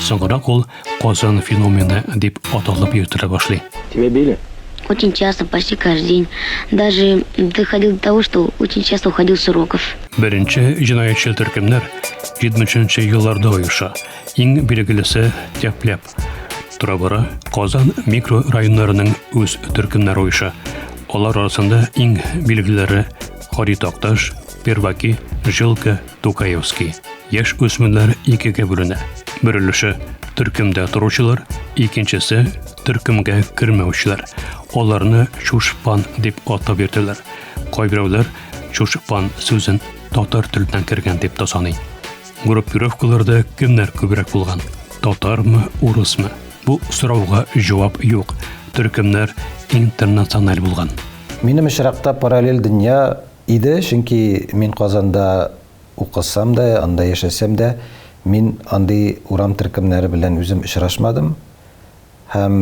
Соңгырак ул Казан феномены дип аталып йөртелә башлый. Тебе били? Очень часто, почти каждый день. Даже доходил до того, что очень часто уходил с уроков. Беренче җинаятьчел төркемнәр 70 елларда оеша. Иң билгелесе Тәпләп. Тора-бара Казан микрорайоннарының үз төркемнәре оеша. Алар арасында иң билгелеләре Хари Такташ, Перваки, Жилка, Тукаевский. Яшь үсмерләр икегә бүленә. Бер өлеше төркемдә торучылар, икенчесе төркемгә кермәүчеләр. Аларны чушпан дип атап йөртәләр. Кайберәүләр чушпан сүзен татар теленнән кергән дип тә саный. Группировкаларда кемнәр күбрәк булган? Татармы, урысмы? Бу сорауга җавап юк. Төркемнәр интернациональ булган. Минем очракта параллель дөнья Иде, чөнки мин Казанда укысам да, анда яшәсәм дә, мин андый урам төркемнәре белән үзем очрашмадым һәм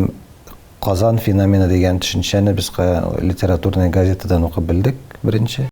Казан феномены дигән төшенчәне без литературный газетадан укып белдек, беренче.